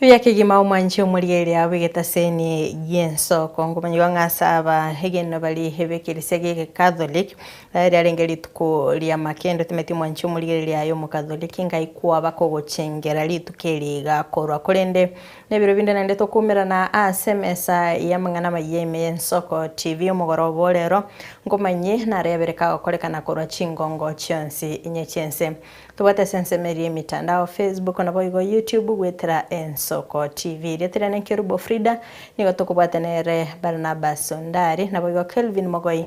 Riria kegima omwanche omoriere abu egetaseni gi'ensoko, nkomanyigwa ng'a ase aba egeneno bari b'ekeresia y'Ecatholic, ekero riarenge rituko ri'amakendo timanyeti omwanchi omoriereri aye Omocatholic ngaikwa bakogochengera rituko eri iga korwa korende Nebiro binde naende tokoumerana ase emesa y'amang'ana amayia ime y'Ensoko TV omogoroba o reero, nkomanyie nare abere kagokorekana korwa chingongo chionsi inye chi'ense. Tobwate ase ensemo eria y'emitandao, Facebook naboigo YouTube goetera Ensoko TV. Erieta riane Nkerubo Frida, nigo tokobwate nere Barnabas Ondari, naboigo Kelvin Mogoi,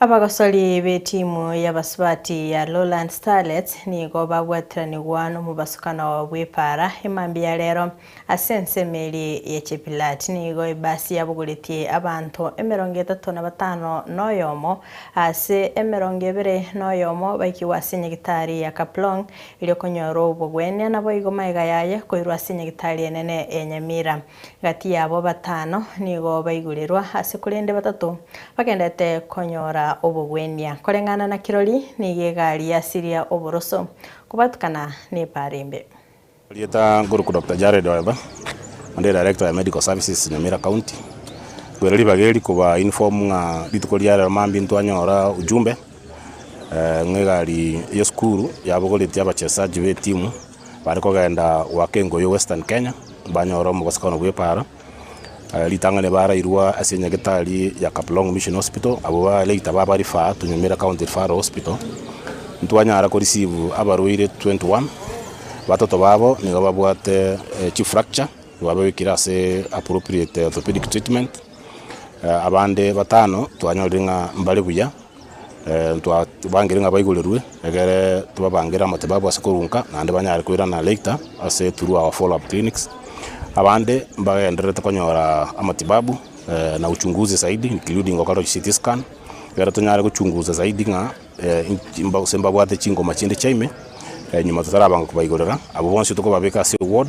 Abagosori b'etimu y'abasubati ya Lowlands Starlets nigo babwatiranigwa nomobasukano bw'epaara emambia ya rero. Ase ensemo eria ya Chepilat nigo ebasi yabogoretie abanto emerongo etato na batano na oyomo ase emerongo ebere na oyomo baikigwe ase enyagitari ya Kaplong eri okonyora obogwenia naboigo magega yaye koirwa ase enyagitari enene ya Nyamira. Gati yabo batano nigo baigurerwa ase korende batato bagenderete konyora obogwenia. Koreng'ana na kirori nigo egari yasiria oboroso kobatukana n'epaara embe. Erieta nkoruku Doctor Jared Oeba, onde Director ya Medical Services Nyamira County. Kwere ribaga eri koba inform ng'a rituko ria rero mambia ntwanyora ujumbe ng'a egari yesukuru yabogoretie abachesaji betimu. Bare kogenda goaka engoyi yo Western Kenya, banyora omogosekano bw'epaara ritang'ani barairwa ase enyagetari ya Kaplong Mission Hospital, abwo balater baba refer to Nyamira County Referral Hospital. Ntwanyara ko receive abarwaire 21, batato babo nigo babwate chief fracture twabegwekire ase appropriate orthopedic treatment, abande batano twanyorire ng'a mbare buya. Ntwabangire ng'a baigorerwe egere tobabangere amatibabu ase korunka naende banyare koirana later ase through our follow up clinics. Abande mbagendererete konyora amatibabu na uchunguzi zaidi including gokorerwa chi CT scan egere tonyare gochunguza zaidi ng'a gose mbabwate chingoma chinde chiaime nyuma totarabanga kobaigorera. Abwo bonsi tokobabeka ase eward.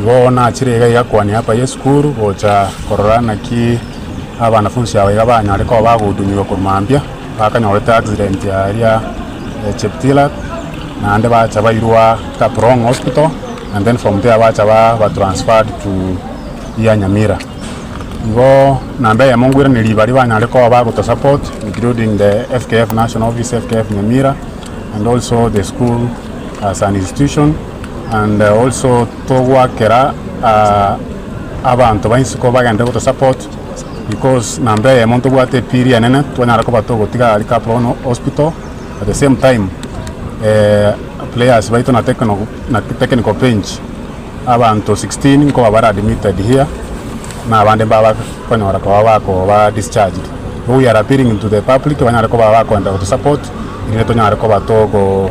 Igo nachire iga iga kwania hapa ye sukuru gocha korora naki abanafunsi aba iga banyare koba bagohudumigwa korwa mambia bakanyorete accident aria cheptilak naende bacha bairwa kaprong hospital and then from there bacha ba transferred to here nyamira igo namba eyemo ngweraneirie baria banyare koba bagoto support including the fkf national office fkf nyamira and also the school as an institution. and also togoakera abanto ba isiko bagende goto support because namba eyemo ntobwate epiri enene twanyara koba togotiga aria kabono hospital at the same time players baito na technical bench abanto 16 nkoba bare admitted here na abande mbabakonyora koba bakoba discharged so we are appealing to the public banyare koba bakoenda goto support erinde tonyare koba togo.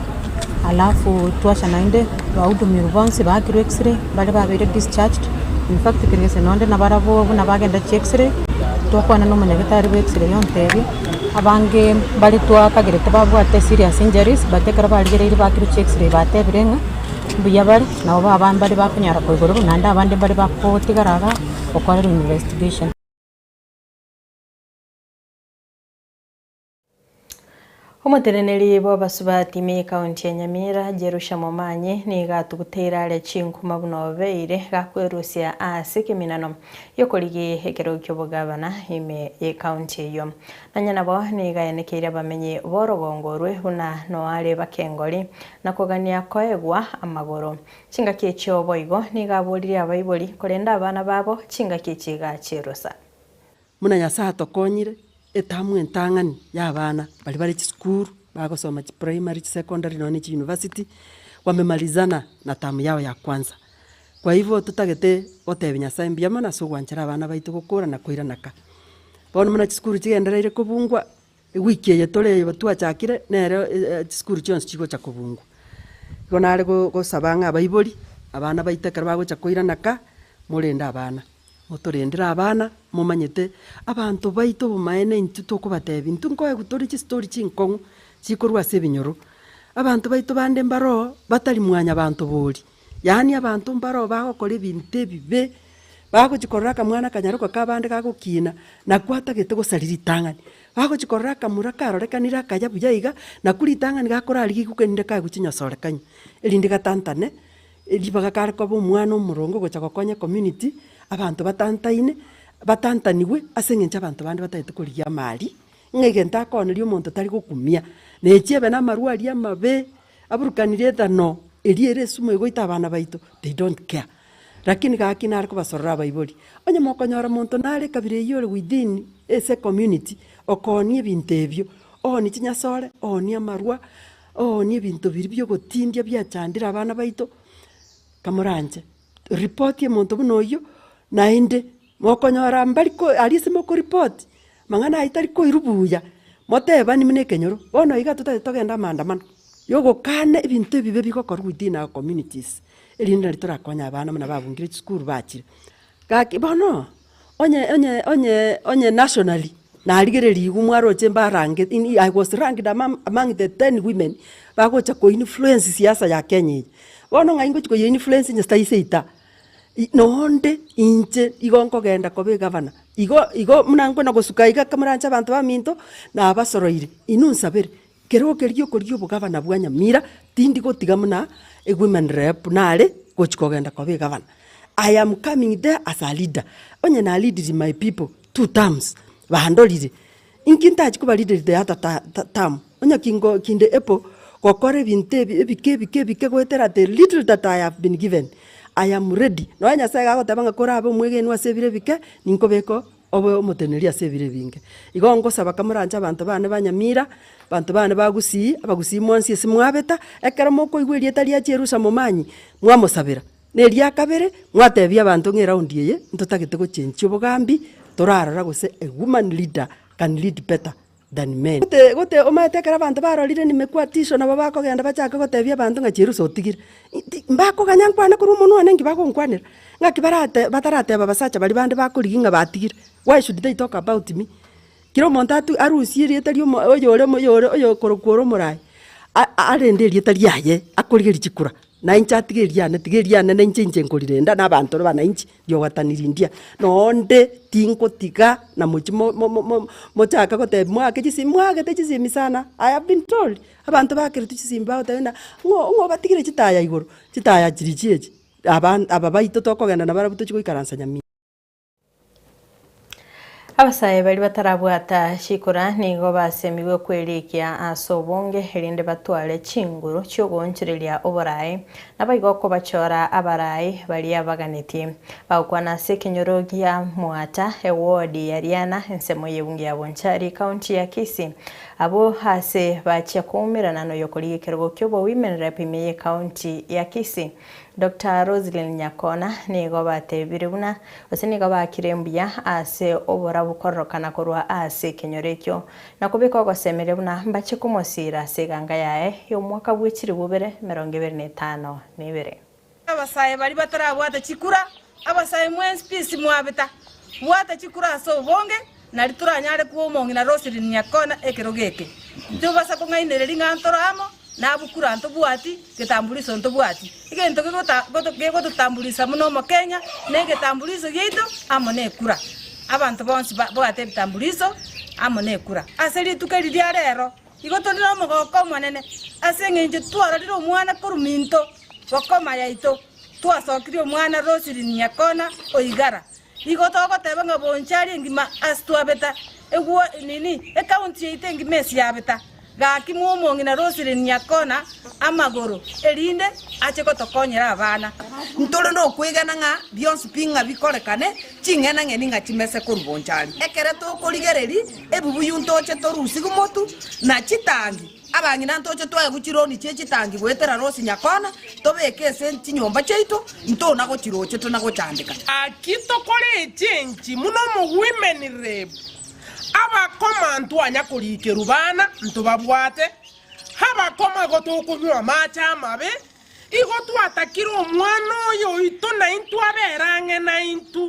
alafu twachia naende bahudumiwa bonsi bakirwe x-ray baria babeire discharged, in fact kere gese nonde nabarabwo buna bagenda chia x-ray, twakwana na omonyagetari bwa x-ray ontebia, abange mbare twakagerete babwate serious injuries but ekero barigereire bakirwe chia x-ray batebire ng'a mbuya bare, nabo ba abande mbare bakonyara koigororwa naende abande mbare bakotigara igaa gokorerwa investigation. Omoteneneri bw'abasubati me County ya Nyamira, Jerusha Momanyi, nigo atuguteire are chinkuma buna obeire gakwerusia ase ekeminano gi'okorigia ekerogo ki'obogavana ime ye county eyio. Nonya nabo nigo aenekeire abamenyi b'orogongo orwe buna noare bakengori na kogania koegwa amagoro. Chingaki echio boigo nigo aboririe abaibori korenda abana babo chingaki chiga chi'erusa. Buna Nyasae atokonyire, etamu entang'ani ya abana baria bare chisukuru, bagosoma chiprimary, chisecondary nonya ne chiuniversity, bamemarizana na tamu yao ya kwanza. Kwa hivyo, totagete gotebia Nyasae mbuya mono ase ogwanchera abana baito gokora na koirana ka. Bono buna chisukuru chigendereire kobungwa, Ewiki eye toreigo twachakire nere chisukuru chionsi chigocha kobungwa. Igo nare gosaba ng'a abaibori, abana baito ekero bagocha koirana ka, morende abana. Motorendere abana, momanyete abanto baito obomaene intwe tokobatebi, intwe nkoegwa tore chistori chinkong'u chikorwa ase ebinyoro. Abanto baito bande mbaro, batari mwanyabanto boria. Yaani abanto mbaroo bagokora ebinto ebibe, bagochi korora akamwana akanyaroka ka abande gagokiina, nakwo atagete gosari ritang'ani. Bagochi korora akamura karorekanire akaya buya iga, nakwo ritang'ani gakorarigia igokenire kagwe chinyasorekania, erinde gatantane ribaga kare koba omwana omoronge ogocha gokonya community, abanto batantaine, batantanigwe ase eng'encho abanto bande batagete korigia amaari, ng'a egento akooneria omonto tari gokumia. Na echiebe na amarwari amabe, Aburukani rieta no, erio ere esumu egoita abana baito, they don't care. Lakini gaki nare kobasorora abaibori. Onye mokonyora monto nare ekabira eyio ore within ase ecommunity, okoonia ebinto ebio, oonie chinyasore, oonie amarwa, oonie ebinto biria bia ogotindia biachandire abana baito, kamoranche, report omonto buna oyio, naende. Mokonyora mbari ko aria ase mokoripoti amang'ana aya tari koiru buya, motebani buna ekenyoro, bono iga totagete togenda amaandamano yogokana ebinto ebibe bigokorwa within our communities, erinde nari torakonye abana buna babungire chisukuru bachire. Gaki bono, onye onye onye onye nationally, narigereria igo mwaroche mbarange in i was ranked among among the ten women bagocha ko influence siasa ya Kenya eye. Bono ng'ai ngochi koyi influence inche sitayi seita. Naende inche nigo nkogenda koba egavana. Igo, igo buna nkona gosuka iga ekero moranche abanto baminto, nabasoroire, inwe nsabere, keroo keria okoria obogavana bwa Nyamira, tindi gotiga buna ewomen rep buna are gochia kogenda koba egavana. I am coming there as a leader, onye na leadiri my people two terms, bandorire. Inki ntachi kobarideride ata tam, onye kingo kinde epo gokora ebinto ebi ebike ebike ebike goetera the little that I have been given I am ready. Nonya Nyasaye iga agoteba ng'a korabe omwegenwa ase ebire ebike, ninkobeke obe omoteneneri ase ebire ebinge. Igo ngosaba ka moranche abanto bane ba Nyamira, abanto bane ba Gusii, Abagusii mwansi ase mwabeta, ekero mokoigwa erieta ria Chierusa momanyie, mwamosabera. Na eria kabere, mwatebia abanto ng'a eraundi eye ntotagete gochenchia obogambi torarora gose a woman leader can lead better than men. Gote gote omanyete ekero abanto barorire nimekwa tisho nabo bakogenda bachake gotebia abanto ng'a chiruso otigire. Inti mbakoganya nkwane korwa omonwa one nki bagonkwanera? Ng'aki barate batarateba abasacha baria bande bakorigia ng'a batigire? Why should they talk about me? Kera omonto atu arusie erieta ri'omo oyore omo oyore oyokorokwa ore omoraai, a- a- arende erieta riaye akorigia richikura, na inche atige eriane tiga eriane na inche inche nkorirenda na abanto na abananchi riogotani rindia. Na onde tingotiga na mochi mo- mo- mo- mo- mochaka gotebi mwake chisi mwagete chisemi sana, I have been told, abanto bakeretwe chisemi bagoteba ng'a ng'o ng'o obatigire chitaya igoro, chitaya chirichio echi, aban aba baito tokogenda nabarabu tochi goikaransa Nyamira. Abasae baria batarabwata chikora nigo basemigwe kwerikia ase obonge, erinde batware chinguru chi'ogoonchoreria oboraai, naboigo okobachora abarai baria baganetie. Bagokwana ase ekenyoro gia Mwata, ewodi ya Riana, ensemo y'ebunge ya Bonchari, County ya Kisii. Abwo aase bachia koumerana noyokorigia ekerogo ki'oboimerera epime y'ecounty ya Kisii. Doctor Roselyn Nyakona nigo batebire buna gose nigo bakire mbuya ase oborabu kororokana korwa ase ekenyoro ekio, na kobeka ogosemeria buna mbache komosiira ase eganga yaye y'omwaka bwe chilifu bire emerongo ebere na etano na ebere. Abasae baria batarabwate chikura Abasae mwensi pisi mwabeta, bwata chikura ase obonge, nari toranyare kua omong'ina Roselyn Nyakona ekerogo eke. Tibasa kong'ainereri ng'a ntoro amo nabwo kura ntobwati, getambuliso ntobwati. Egento gegototambulisa buna omokenya negetambuliso giaito amo nekura. Abanto bonsi babwate ebitambuliso amo nekura. Ase rituko eri ria rero igo tori nomogoko omonene ase eng'encho twarorire omwana korwa minto bokoma yaito. Twasokirie omwana Roselyn Nyakona o Igara. Igo togoteba ng'a bonsi aria engima as twabeta eguo nini ecounty yaito engima as yabeta. Gaki mwa omong'ina Roselyn Nyakona amagoro erinde ache gotokonyera abana. Ntore nokwegena ng'a bionsi pi ng'a bikorekane ching'ena ng'eni ng'a chimese korwa bonsi aria. Ekero tokorigereri ebibuyu ntoche torusig'u motu na chitangi. Abang'ina ntoche twaye gochironi chie chitangi goetera Rosi Nyakona, tobeke ase chinyomba chiaito, ntona gochirochete na gochandeka. Naki tokoreche enchimi buna omogwimenireb, abakoma ntwanya korikerwa bana, ntobabwate, abakoma igo tokonywa amache amabe, Igo twatakire omwana oyo oito naintwe abere ang'e naintwe,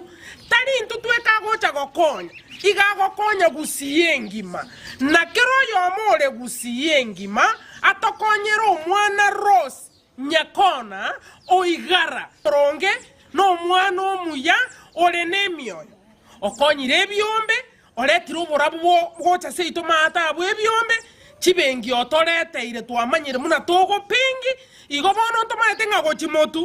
tari intwe tweka agocha gokonya, iga agokonya gusii engima, na kera oyomo ore gusii engima atokonyere omwana Rose Nyakona oigara boronge nomwana omuya ore nemioyo okonyire ebiombe Oretire oborabu bwo gocha seito maata abwo ebiombe chibengi otoreteire twamanyire muna togopengi igo bono ntomaete ng'a gochi motu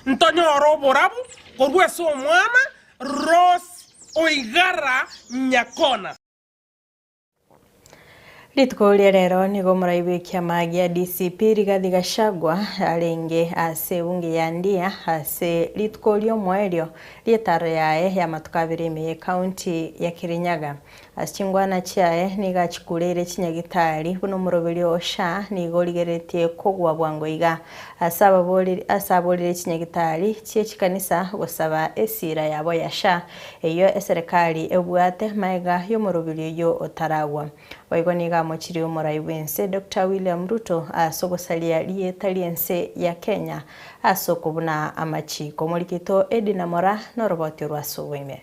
ntonyore oborabu korwa ase omwana Rose oigara nyakona. Rituko ria rero nigo omorai bw'ekiama gia DCP Rigathi Gachagua arenge ase ebunge ya Ndia ase rituko ri'omoerio ri'etaro yaye y'amatuko abere ime y'ecounty ya Kirinyaga. Ase chingwana chiaye nigo achikureire chinyagitari buna omoroberio o SHA nigo origereretie kogwa bwango iga ase ababoreri ase aborire chinyagitari chie chikanisa gosaba esira yabo ya SHA Eyio eserekari ebwate maega y'omoroberio oyio otaragwa. Boigo nigo amochirie omorai bw'ense Doctor William Ruto ase ogosaria rieta ri'ense ya Kenya ase okobuna amachiiko. Omori Kito Eddy Namora noroboti orwo ase oboime.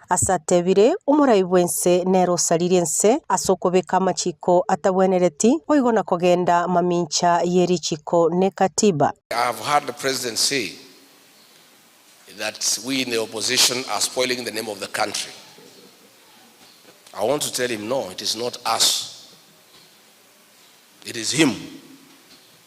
As'atebire, Omorai bw'ense nere osaririe ense as'okobeka amachiko atabwenereti, boigo na kogenda mamincha ye richiko ne Katiba. I have heard the president say that we in the opposition are spoiling the name of the country. I want to tell him no, it is not us, it is him.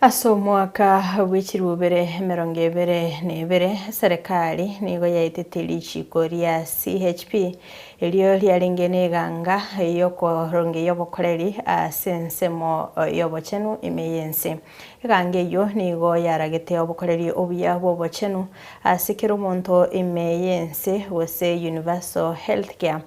Ase omwaka bwe chirubere emerongo ebere na ebere, Serekari nigo yaetete richiiko ria CHP, erio riarenge n'eganga y'okoronge y'obokoreri ase ensemo y'obochenu ime y'ense. Eganga eyio nigo yaragete obokoreri obuya bw'obochenu ase kera omonto ime y'ense, gose universal healthcare,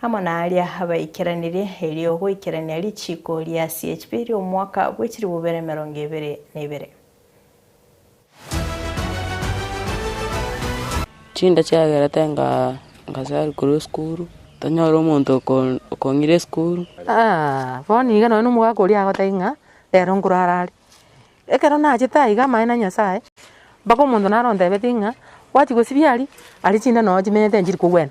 Amo naria abaikeranerie, erio goikerania richiiko ria CHP ri'omwaka bw'echiribubera emerongo ebere na ebere. Chinda chiagerete ngasarwa korwa esukuru, tanyora omonto okong'ira esukuru. Bono nigo nonye nomogaka oria agotebia ng'a rero nkorara are. Ekero nachete aiga amaene a Nyasaye, mpaka omonto naro ontebeti ng'a, gwachi gosibia aria, aria chinda nonye chimenyete nchiri kogwena.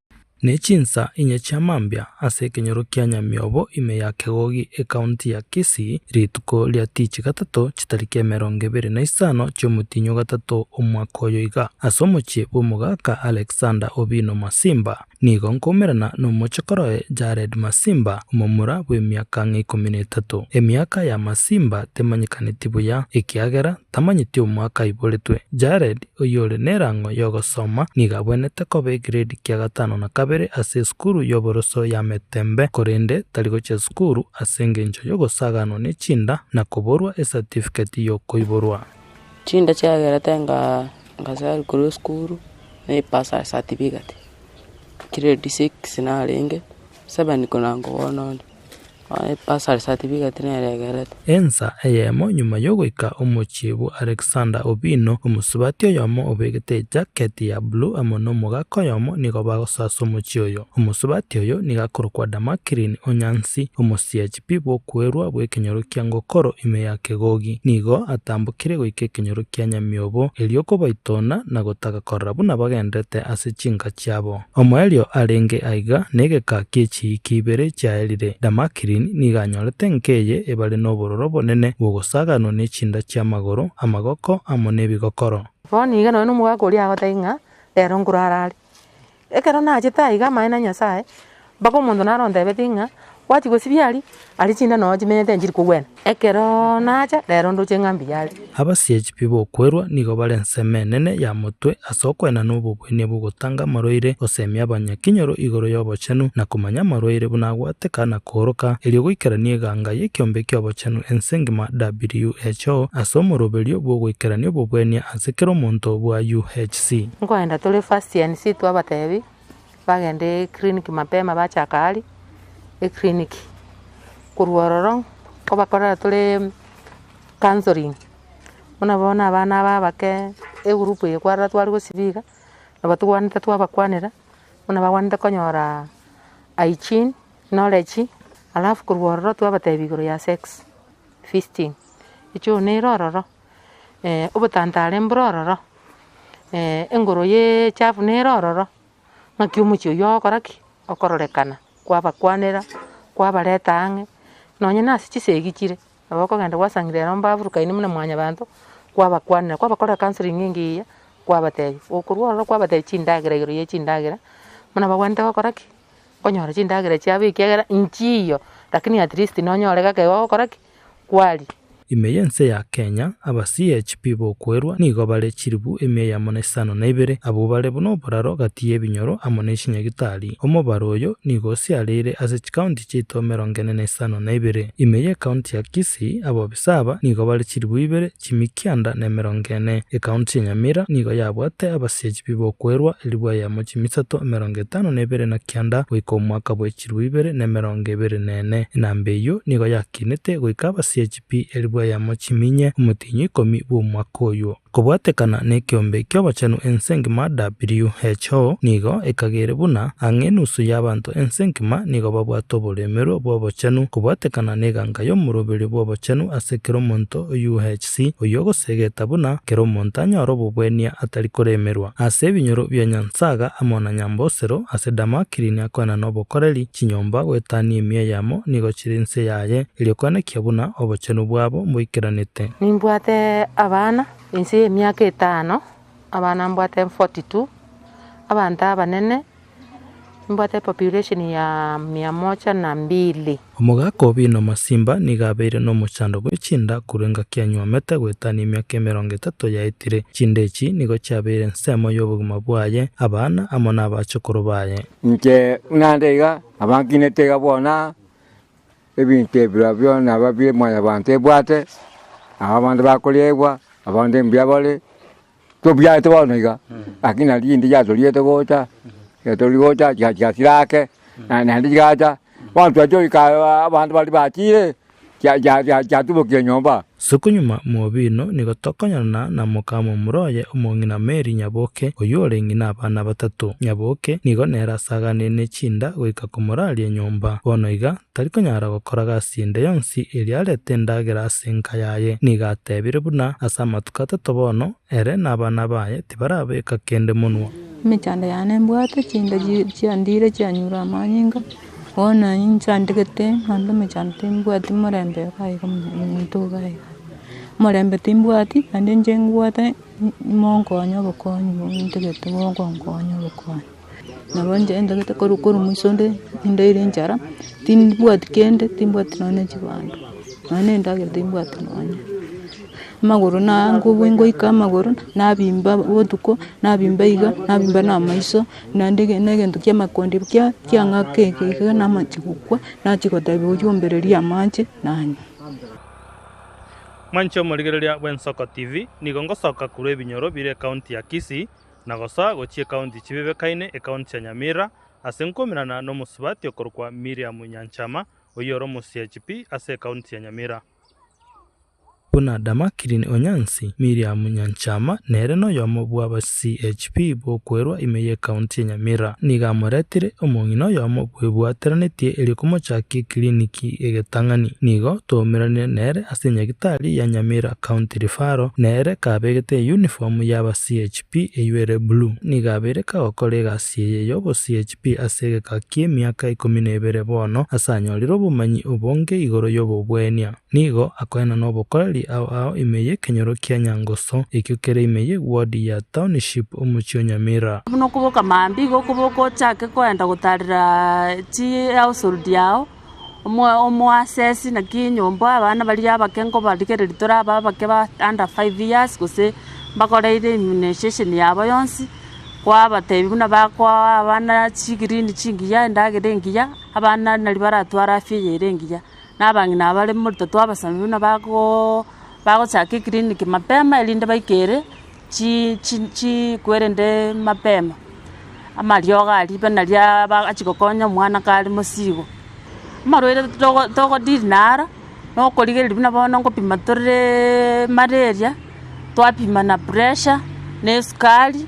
Ne chinsa inye chia mambia ase ekenyoro kia Nyamiobo ime ya Kegogi ekaunti ya Kisii rituko ria tichi gatato chitariki emerongo ebere na isano chi'omotinyi o gatato omwaka oyo iga, ase omochie bw'omogaka Alexander Obino Masimba, nigo nkoumerana nomochokoro oye Jared Masimba omomura bw'emiaka ng'a ikomi na etato. Emiaka ya Masimba temanyekaneti buya ekiagera tamanyeti omwaka aiboretwe. Jared, oyore nerang'o yogosoma, nigo abwenete koba egredi kia gatano na kabere ase esukuru y'oboroso ya Metembe, korende tari gochia sukuru ase engencho yogosaganwa ne chinda na koborwa esatifiketi yokoiborwa. Chinda chiagerete ngasari korwa esukuru na ebasari satifiketi. Gredi six narenge, seven konango bono onde. Ensa eyemo nyuma y'ogoika omochie bwa Alexander Obino, omosubati oyomo obegete ejaketi ya blue amo nomogaka oyomo nigo bagosasa omochie oyo. Omosubati oyo nigo akorokwa Damaklin o Nyansi, omosiachipi bw'okwerwa bw'ekenyoro kia Ngokoro ime ya Kegogi. Nigo atambokire goika ekenyoro kia Nyamiobo, erio kobaitona na gotaka korora buna bagenderete ase chinka chiabo. Omoerio arenge aiga negeka gie chiiki ibere chiaerire Damaklin nigo anyorete enka eye ebare nobororo obonene bw'ogosaganwa ne chinda chi'amagoro, amagoko, amo nebigokoro. Bono nigo nonye nomogaka oria agotebie ng'a, Rero nkorara are. Ekero nachete aiga amaene a Nyasae, mpaka omonto naro ontebeti ng'a, Gwachia gosibia aria, aria chinda nonya chimenyete nchiri kogwena. Ekero nacha, rero ndoche ng'a mbuya aria. Abasiechi pi b'okwerwa nigo bare ensemo enene ya motwe ase okoena na obobuenia bw'ogotanga amarwaire, gosemia abanyakinyoro igoro y'obochenu, na komanya amarwaire buna agwateka na kooroka, erio goikerania eganga y'ekeombe ki'obochenu ense engima, WHO, ase omoroberio bw'ogoikerania obobuenia ase kera omonto bwa UHC. Nkoenda tore first NC twabatebi. Bagenda eclinic mapema bachaka aria eclinic, korwa ororo nkobakorera tore counselling, buna bono abana aba abake egroup eye kwarora tware gosiba iga, nabo togwanete twabakwanera buna bagwanete konyora hygiene, knowledge, alafu korwa ororo twabatebia igoro ya sex, fisting, echo nere ororo. obotantare mboro ororo, engoro ya echafu nere ororo, ng'aki omochie oyio ogokora ki? Okororekana, kwabakwanera, kwabareta ang'e, nonye nase chisegi chire, nabo okogenda gwasangire ere omba aburukaine buna mwanyabanto, kwabakwanera, kwabakorera counselling engiya egiya, kwabatebia, gokorwa ororo kwabatebia chindagera igoro ya chindagera, buna bagwenerete gokora ki? Konyora chindagera chiabo ekiagera nchiiyo, rakini at least nonyore gake ogokora ki? kwari. Ime y'ense ya Kenya, aba CHP b'okwerwa nigo bare chilifu emia eyemo na isano na ibere, abwo bare buna oboraro gati y'ebinyoro amo ne chinyagitari. Omobaro oyo nigo osiareire ase chikaunti chiaito emerongo ene na isano na ibere. Ime y'ecounty ya Kisii, abobisa aba nigo bare chilifu ibere, chimikianda na emerongo ene. Ekaunti ya Nyamira nigo yabwate abasiechi b'ibokwerwa elfu eyemo chimisato emerongo etano na ebere na kianda goika omwaka bwechirwa ibere na emerongo ebere na ene. Enamba eyio nigo yakinete goika abasiechi pi elfu eyemo chiminye omotienyi ikomi bw'omwaka oyio. Kobwatekana nekiombe ki'obochenu ense ngima WHO nigo ekagere buna ang'e enusu y'abanto ense ngima nigo babwate oboremerwe bw'obochenu kobwatekana neganga y'omoroberio bw'obochenu ase kera omonto. UHC, oyio ogosegeta buna kera omonto anyore obobwenia atari koremerwa, ase ebinyoro bia Nyansaga amo na Nyambosero, ase Damakrini akoena nobokoreri, chinyomba goetania emia yamo nigo chire inse yaye, erio koenekia buna obochenu bwabo mboikeranete. Nimbwate abana ense y'emiaka etano, abana mbwate forty two, abanto abanene. Nimbwate population ya mia moja na mbili. Omogaka o Bino Masimba nigo abeire nomochando bwe chinda korwa engaki anywomete goetania emiaka emerongo etato yaetire. Chinda echi nigo chiabeire ensemo y'obogima bwaye, abana, amo n'abachokoro baye. Inche naende iga nabankinete iga bono aa, ebinto ebirobio biona aba bie mwanyabanto ebwate, nabo abande bakoriegwa, abande mbuya bare, Tobiarete bono iga, lakini naende chinde chiatoriete gocha, chiatori gocha chika chika chirake, na naende chigacha, bono twachia goika aa abanto baria bachire, chia chia chia chiatubokia enyomba. Isiko nyuma mw'obiino nigo tokonyarana na omokama omura oye omong'ina Mary Nyaboke, oyio ore ng'ina abana batato. Nyaboke nigo nere asaganeine chinda goika komoraria enyomba. Bono iga tari konyara gokora gasi ende yonsi erio arete endagera ase enka yaye. Nigo atebire buna ase amatuko atato bono, ere na abana baye tibarabeka kende monwa. Emechando yane mbwate chinda chiandire chianyure amanyinga, bono na inche andegete ande emechando timbwati morembe iga iga omonto iga iga. Omorembe timbwati naende inche ngwate monkonye obokonyi bondegete bokonkonya obokonyi. Nabo inche ntagete korwa korwa mwiso inde, nindaire enchara, timbwati kende, timbwati nonya chibando, nonya na endagera timbwati nonya. Amagoro na ngubua ngoika amagoro, nabimba botuko, nabimba iga, nabimba na amaiso, naende ege- na egento kia amakondi kia- kiang'aka eke iga namache gokwa, nachia gotebia oyio ombererie amache, nanywa. Mwanche omorigereria bw'Ensoko TV, nigo ngosoka korwa ebinyoro bire ekaunti ya Kisii, na gosoa gochia ekaunti chibebekaine, ekaunti ya Nyamira, ase nkoimerana nomosubati okorokwa Miriam Nyanchama, oyio ore omosiachi pi ase ekaunti ya Nyamira. Buna Damakilin Onyansi, Miriam Nyanchama nere noyomo bw'abasiachiP b'okwerwa ime y'ekaunti ya Nyamira. Nigo amoretire omong'ina oyomo bwebwateranetie erio komochakia ekiriniki egetang'ani. Nigo twaumeranire nere ase Nyagitari ya Nyamira. County Referral, nere kabegete eyunifomu y'aba CHP eyio ere blue. Nigo abeire kagokora egasi eye y'obo CHP ase egeka ki'emiaka ikomi na ebere bono, ase anyorire obomanyi obonge igoro y'obobwenia. Nigo akoenana nobokoreri ao ao ime y'ekenyoro kia Nyangoso, ekio kere ime ye ward ya Township omochie o Nyamira. Buna okoboka mambia, igo okoboka ochake koenda gotarera chi household yao. Omoasesi naki enyomba, abana baria abake nkobarigereria tore abe abake ba under five years, gose mbakoreire immunization yabo yonsi, kwabatebia buna bakoa abana chigreen chingiya, endagera engiya, abana nario baratware afya eye ere engiya. Na abang'ina aba bare morito twabasabia buna bagoooo bagochaka eclinic mapema erinde baike ere. chi- chi- chiku erende mapema, amariogo a ribena ria aba achia gokonya omwana kare mosigo. Amarwaire togo togo deal naro, na okorigereria buna bono nkopima toreeee malaria, twapima na pressure, na esukari,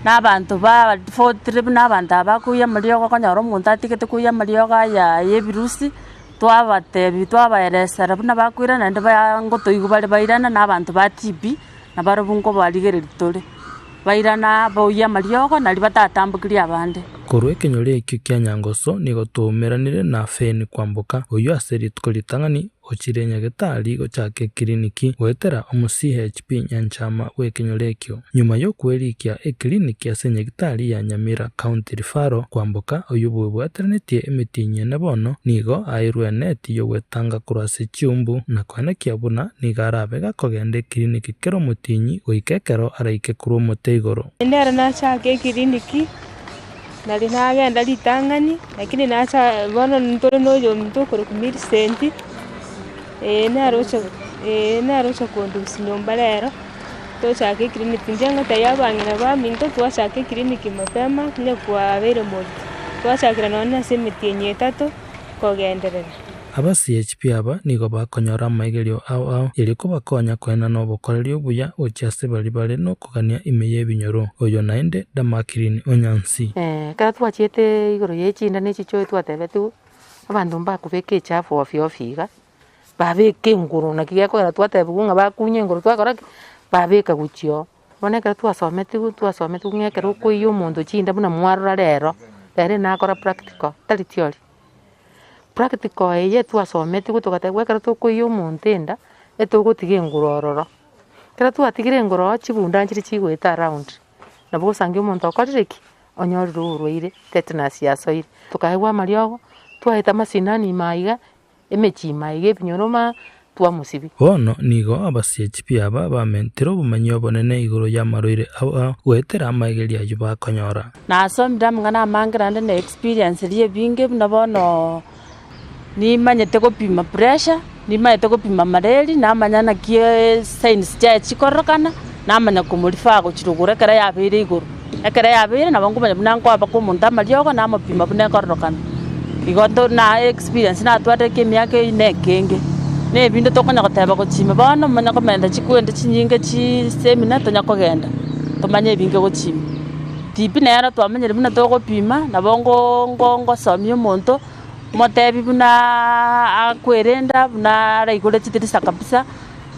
na abanto ba tofauti buna abanto aba bakoiya amariogo okonyora omonto atigete koiya amariogo aya ya ebirusi, twabatebi twabaeresera buna bakoirana naende ba ngotoigwa bare bairana na abanto ba TB. na barabwo nkobarigereria tore, bairana boyie amariogo na riba tatambokirie abande. Korwa ekenyoro ekio kia Nyangoso nigo twaumeranire na Feni kwamboka, oyio ase rituko ritang'ani ochire nyagetari gochaka ekiriniki goetera omo CHP nyanchama bw'ekenyoro ekio. Nyuma y'okwerikia ekiriniki ase nyagitari ya Nyamira County Referral kwamboka, oyio bwebwateranetie emetienyi ene bono nigo airwe eneti y'ogwetanga korwa ase chiumbu na koenekia buna nigo arabe gakogenda ekiriniki kera omotienyi goika ekero araike korwa omote igoro. Naende ere nachaake ekiriniki, nari nagenda ritang'ani, lakini nacha bono ntore na oyominto okorokwa Millicent, eye nere oche eye nere oche kondusia nyomba rero, tochake ekiriniki. Inche ngotebia abang'ina baminto twachake ekiriniki mapema onye kwabeire monto, twachakire nonya ase emetienyi etato kogenderera. Abasiechibi aba nigo bakonyora amaigerio ao ao erio kobakonya koenana nobokoreri obuya gochia ase baria bare nokogania ime y'ebinyoro. Oyo naende Damakirini o Nyansi. Ekero twachiete igoro ye chinda ne chichoe twatebetigwe abanto mbakobeka echafu ofio ofio iga, babeka engoro naki gekorera twatebigwe ng'a bakunye engoro twakora ki? Babeka gochia oo. Bono ekero twasometigwe, twasometigwe ng'a ekero okoiyia omonto chinda buna mwarora rero, rero ere nakora practical, tari theory. Practical eye twasometigwe togatebiwa ekero tokoiyia omonto enda, etogotiga enguru ororo. Ekero twatigire engoro ororo chigunda nchiria chigoeta around, nabo osange omonto okorire ki? Onyorire oborwaire, tetanus yasoire. Tokaegwa amariogo, twaeta amasinani ime aiga, Emechima eye ebinyoroma twamosibi. Bono nigo abasie chipi aba bamentire obomanyi obonene igoro y'amarwaire aba goetera amaegeri ayio bakonyora. Nasomire amang'ana amange naende ne experience eria ebinge buna bono nimanyete gopima pressure, nimanyete gopima mareri, namanya naki signs chiaye chikororokana. namanya komorifa agochire ogoro ekero yabeire igoro. Ekero yabeire nabo nkomanya buna nkoabeka omonto amariogo namopima buna ekororokana. Igo nto- na experience natwate eke emiaka eyio na ekenge. Na ebinto tokonya goteba gochia ime bono omonye komenta chikuente chinyinge chii seminar tonya kogenda tomanye ebinge gochia ime. Tibi nero twamenyire buna togopima nabo ngo- ngo- ngosomia omonto motebi bunaaaa akwerenda buna araigure chitirisa kabisa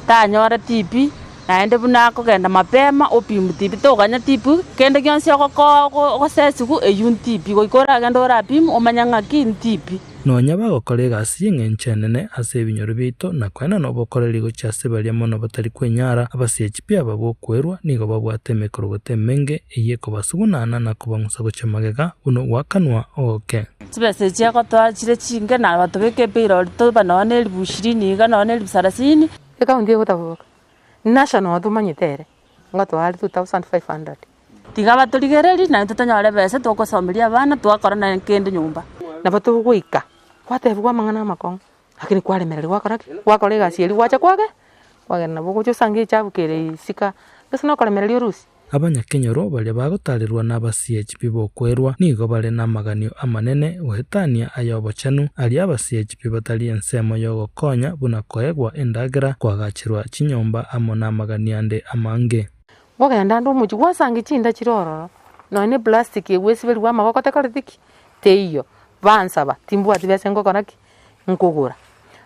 tanyore tibi. Naende buna akogenda mapema opi ntibi toganya tipi kende gionsi ogokoa ogosesigu eyio ntipi goika oragende orapim omanye ng'aki ntipi. Nonya bagokora egasi y'engencho enene ase ebinyoro biaito, na koenda nobokoreri gochia ase baria mono batari kwenyara, abasiechi pi aba bw'okwerwa, nigo babwate emekorogoto emenge, eyio ekobasugunana na kobang'usa gochia magega, buna ogwakanwa ogoke. Chibesa echi agotoa chire chinge, na abatobeka epeirori toba nonya neribu ishirini iga nonya neribu sarasini. Ekaunti egotaboboka, National tomanyete ere, ngotoa are 2500. Tiga batorigererie naintwe tonyore besa togosomeria abana, twakora naye kende nyomba. Nabo togoika gwatebigwa amang'ana amakong'u, lakini kwaremereri gwakora ki? Gwakora egasi eria gwacha kwage, kwagenda nabo ogocha osange echabu kere isika, gese nokoremereria orusie. Abanyakenyoro baria bagotaarerwa nabasiechi bib'okwerwa nigo bare namaganio amanene goetania ay'obochenu, aria abasiechi bibatari ensemo y'ogokonya buna koegwa endagera, koagacherwa chinyomba amo namaganio ande amange. Ngogenda ande omochie gwasangia chinda chire ororo, nonya ne plastic eye gwesiberigwa amaboko tekoreti ki? Teiyo. Bansaba, timbwati besa ngokora ki? Nkogora.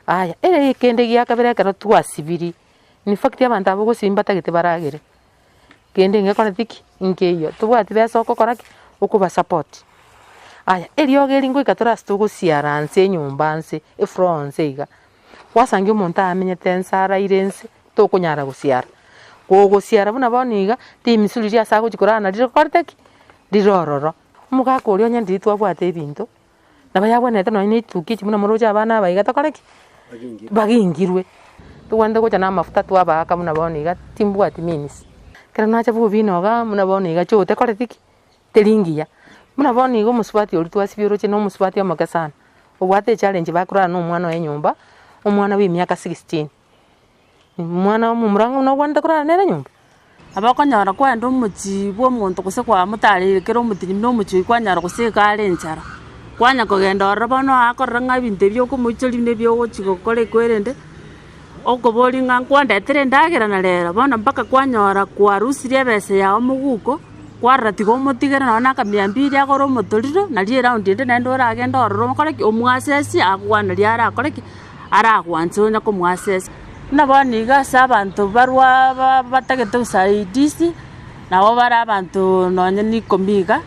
Aya, ere kende giakabere ekero twasibiri, in fact abanto aba ogosibi mbatagete baragere. kende ngekore tiki nkeiyo. Tobwati besa okokora ki? Okoba support. Aya eriogo eri ngoika tore ase togosiara nse enyomba nse, efloor nse iga, gwasangia omonto amenyete nse araire nse, tokonyara gosiara. Kogosiara buna bono iga, timisuri riria ase agochia korara nario rikorete ki? Rire ororo. Omogaka oria onye ndiri twabwate ebinto, Nabo yagwenerete nonye na etukia echi buna moroche abana aba iga tokore ki? Bagingirwe. Togwenerete gocha na amafuta twabaaka buna bono iga timbwati means. Ekero nacha bobe inogaa buna bono iga choo tekoreti ki? Teri ngiya. Buna bono iga omosubati oria twasibia oroche na omosubati omoke sana. Obwate echallenge bakorana na omwana oye nyomba, omwana bwa emiaka sixteen. Omwana omomura ng'a buna ogwanete korara nere nyomba. Nabo okonyora kwenda omochie bw'omonto gose kwamotareire ekero omotenyi buna omochie oyio kwanyora gose iga are enchara, kwanya kogenda ororo bono oye akorora ng'a ebinto ebi okomoichoria nebi ogochia gokora ekwerende, okoboria ng'a nkwandetere endagera na rero, bono mpaka kwanyora kwarusirie ebesa yago moguko, kwarora tiga omotigere nonye na akamia mbiri agore omotorero, naria eraundi ende naende oragende ororo okore ki? Omwasesie akokwana riria arakore ki? aragwanche onye komoasesa. Buna bono igo ase abanto barwa batagete usaidizi, nabo bare abanto nonye n'ikomi iga,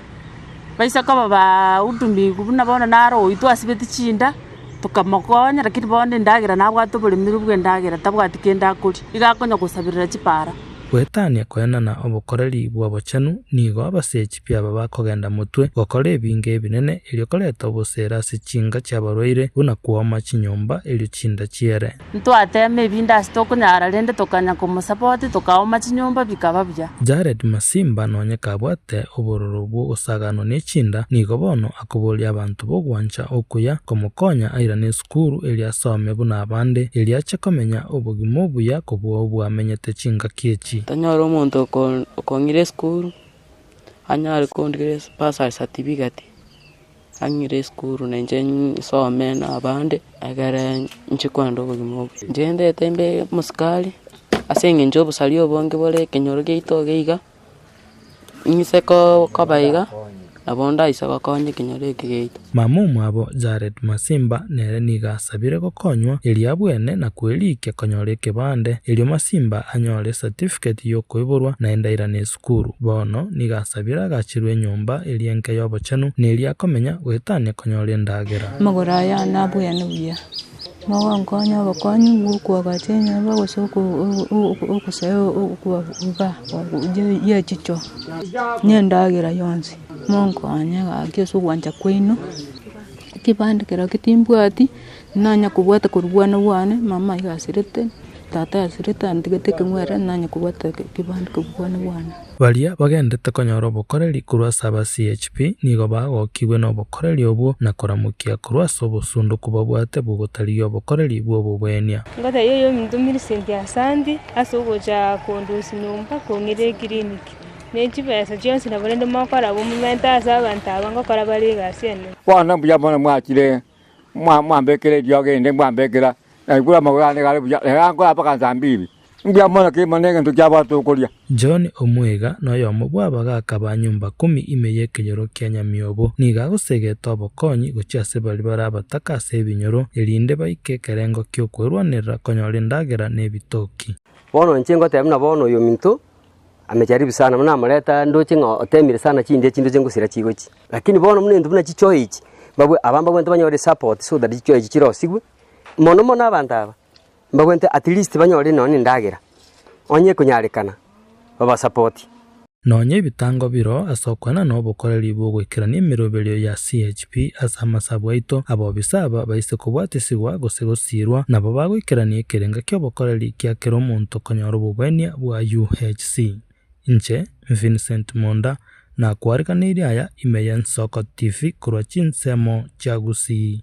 baise koba bahudumiku buna bono naro oyio twasibeti chinda, tokamokonya lakini bono endagera nabwate oboremeru bw'endagera tabwati kende akoria, iga akonya gosaberera chipara. Goetania koenana obokoreri bw'obochenu nigo abasechi. biaba bakogenda motwe gokora ebinge ebinene, erio koreta obosera ase chinka chi'abarwaire, buna kwoma chinyomba, erio chinda chiere. Ntwateema ebinto ase tokonyara, rende tokanya komosapoti, tokaoma chinyomba, bikaba buya. Jared Masimba nonye kabwate obororo bw'ogosaganwa nechinda, nigo bono akoboria abanto b'ogwancha okuya komokonya airane esukuru erio asome buna abande, erio ache komenya obogima obuya kobua obwamenyete chingaki echi. Tonyore omonto okong'ira esukuru, anyare kondigeria esipasa ya satifiketi, ang'ire esukuru na inche nsome na abande ekere inche kogenda obogima obo. Inche ndeete mbe omosikari ase eng'encho y'obosari obonge bore ekenyoro giaito iga iga, ng'ise koba iga nabo ndaise gokonya ekenyoro eke giaito. Mama omwabo Jared Masimba nere nigo asabire gokonywa erio abwene na kwerikia konyora ekebande, erio Masimba anyore esatifiketi y'okoiborwa na endairano y'esukuru. Korwa bono nigo asabire agachirwe enyomba eria enke y'obochenu, na eria akomenya, goetania konyora endagera. Amagoro aye aane abuya na buya, mogonkonya obokong'u bw'okoagacha enyomba gose ogosaya okoba ye chicho, na endagera yonsi, monkonye gaki ase ogwancha kwaino, ekebande keria timbwati. Nonye kobwate korwa bwana bwane, mama iga asirete, tata asirete, antigete ekeng'were, nonye kobwate ekebande korwa bwana bwane. Baria bagenderete konyora obokoreri korwa ase aba CHP nigo bagokigwe nobokoreri obwo na koramokia korwa ase obosunduku babwate bw'ogotarigia obokoreri bw'obobwenia. Ngoteebia oyominto Millicent Asanti ase ogocha kondosia nyomba kong'ira ekiriniki ne chibesa chionsi nabarende mogokora bomomente ase abanto aba ngokora bare egasi enene. Bono mbuya mono mwachire Mwambekera eriogi erinde mbwambekera, na ekura amagoro aane igare buya, rero ankore mpaka nsambibi. Mbuya mono kera omonto ne egento kiabwate okoria. John omwega na oyomo bw'abaga akaba nyomba kumi ime y'ekenyoro kia nyamiobo. Nigo agosegete obokonyi gochia ase baria bare abataka ase ebinyoro, erinde baike ekerengo ki'okwerwanerera konyora endagera na ebitoki. Bono inche ngotebi na bono oyominto. Amejaribu sana, buna namoreta ndoche ng'a otemire sana chindiya chinto chia ngosira chigochi. Lakini bono buna into buna chichoyo echi, mbabwe- aba mbabwenerete banyore esupport so that chichoyo echi chirosigwe, mono mono abanto aba, mbabwenerete at least banyore nonye na endagera, onye ekonyarekana babasapoti. Nonya ebitango biro ase okwana na obokoreri bw'ogoikerania emeroberio ya CHP. Pi ase amasabu aito, abobisa aba baise kobwatisigwa gose gosiirwa, nabo bagoikerania ekerenga ki'obokoreri kia kera omonto konyora obogwenia bwa UHC. Inche, Vincent Monda, nakwariganeirie aya ime y'Ensoko TV korwa chinsemo chia Gusii.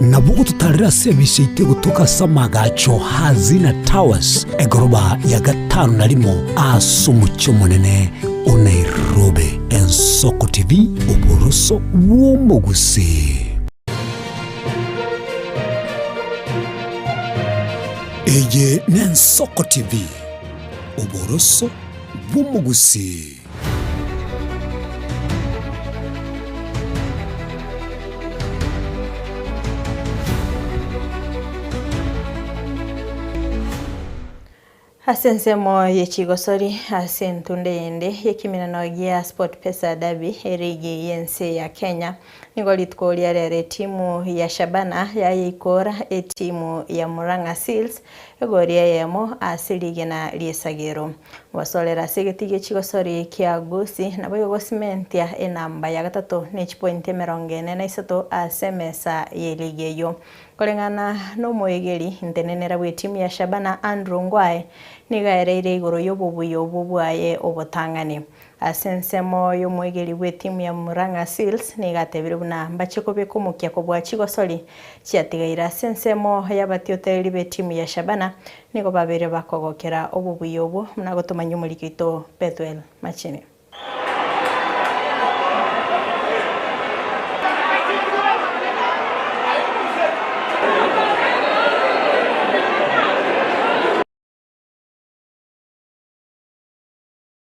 Nabwo gototarere ase ebichie ite gotoka ase amagacho a Zina Towers, egoroba ya gatano na rimo ase omochie omonene o Nairobi. Ensoko TV, oboroso bw'omogusii. Eye n'Ensoko TV, oboroso bw'omogusii. Ase ensemo ye chigosori ase entunda eyende y'ekemenano gia Sportpesa Derby erigi y'ense ya Kenya, nigo rituko ria rero etimu ya Shabana yayeikora etimu ya Murang'a Seals Egori eyemo ase rigena ri'esagero. Gosorera ase egeti gi'echigosori kia gusi, nabo egosimentia enamba ya gatato ne chipointi emerongo ene na isato ase emesa ye ligi eyio. Koreng'ana nomoegeri, ntenenera bw'etimu ya Shabana Andrew Ngwae nigo aereire igoro y'obobuya obwo bwaye obotang'ani. Ase ensemo y'omoegeri bw'etimu ya Murang'a Seals nigo atebire buna mbachie kobeka omokia kobua chigosori chiatigaire. Ase ensemo y'abatiotereri b'etimu ya Shabana nigo babeire bakogokera obobuya obwo buna gotomanyia omoriki oito Bethuel Machine.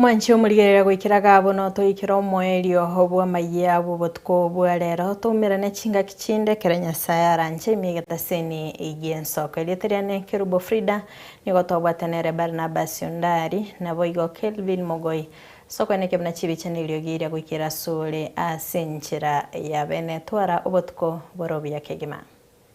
Mwanche omorigereria goikera gabo notoikere omoerio bw'amayia bw'obotuko bwa rero, toumerane chingaki chinde ekero Nyasae aranche ime egetaseni gi'ensoko. Erieta riane Kerubo Frida, nigo twabwate nere Barnabas Ondari, naboigo Kelvin Mogoi. As'okweneka buna chibichani erio giria goikera asore as'enchera ya bene, twara obotuko bore obuya kegima.